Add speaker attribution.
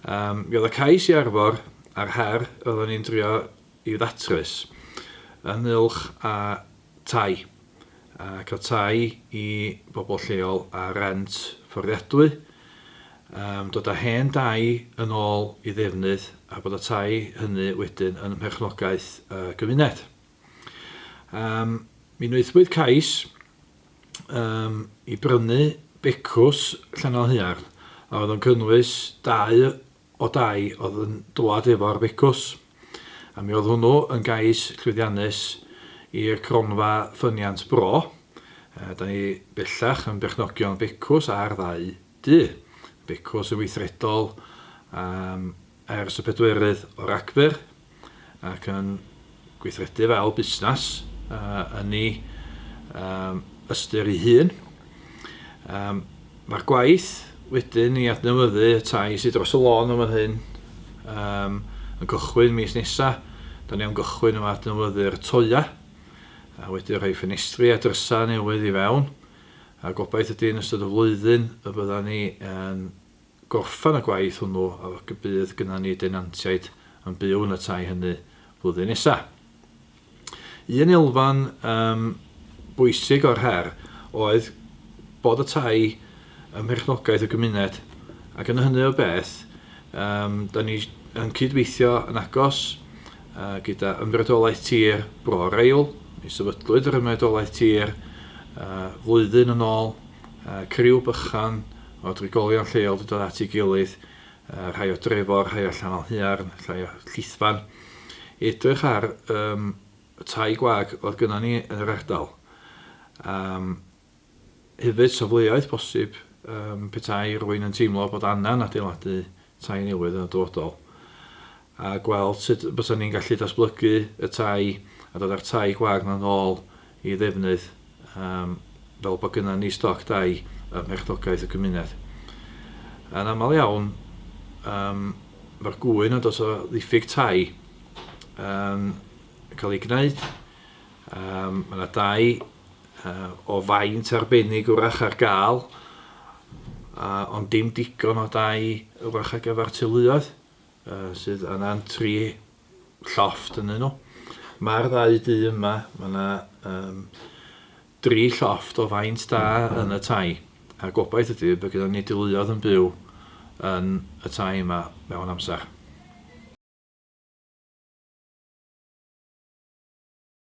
Speaker 1: Mi oedd y cais i arfor a'r her roeddwn ni'n drio i ddatrys ynghylch â tai, a cael tai i bobl lleol ar rent fforddiadwy, dod â hen dai yn ôl i ddefnydd a bod y tai hynny wedyn yn mherchnogaeth y gymuned. Mi wnaethpwyd cais, um, i brynu becws Llanelhaearn a oedd yn cynnwys dau o dai oedd yn dwad efo'r becws. A mi oedd hwnnw yn gais llwyddiannus i'r cronfa ffyniant bro. Da ni bellach yn berchnogion becws ar ddau Du, becws yn weithredol am ers y pedwerydd o Ragfyr ac yn gweithredu fel busnes yn ei ystyr ei hun. Mae'r gwaith wedyn i adnewyddu y tai sydd dros y lôn yn fan hyn yn cychwyn mis nesaf. Da ni am gychwyn efo adnewyddu'r toeau a wedyn rhoi ffenestri a drysau newydd i fewn. A gobaith ydy yn ystod y flwyddyn y byddan ni yn gorffen y gwaith hwnnw ac y bydd gynnon ni denantiaid yn byw yn y tai hynny flwyddyn nesa. Un elfen um, bwysig o'r her oedd bod y tai ym mherchnogaeth y gymuned ac yn hynny o beth Yym, da ni yn cyd-weithio yn agos uh, gyda Ymreolaeth Tir Bro Reil. Mi sefydlwyd yr Ymreolaeth Tir uh, flwyddyn yn ôl. Uh, criw bychan o drigolion lleol wedi dod at ei gilydd, uh, rhai o Drefor, rhai o Llanol Huarn, rhai o Llithfan, edrych ar um, y tai gwag oedd gyda ni yn yr ardal. Um, Hefyd, safleoedd posib petai rwy'n yn teimlo bod angen adeiladu tai newydd yn y dyfodol, a gweld sut bysan ni'n gallu datblygu y tai a dod â'r tai gwag yma yn ôl i ddefnydd fel bod gynnon ni stoc dai ym mherchnogaeth y gymuned. Yn aml iawn, mae'r gŵyn yn dod o ddiffyg tai yn cael ei gwneud, mae yna dai o faint arbennig wrach ar gael, ond dim digon o dai wrach ar gyfer teuluoedd sydd angen tri llofft ynddyn nhw. Mae'r ddau du yma, mae yna um, dri llofft o faint da yn y tai, a gobaith ydy bod gyda ni deuluoedd yn byw yn y tai yma mewn amser.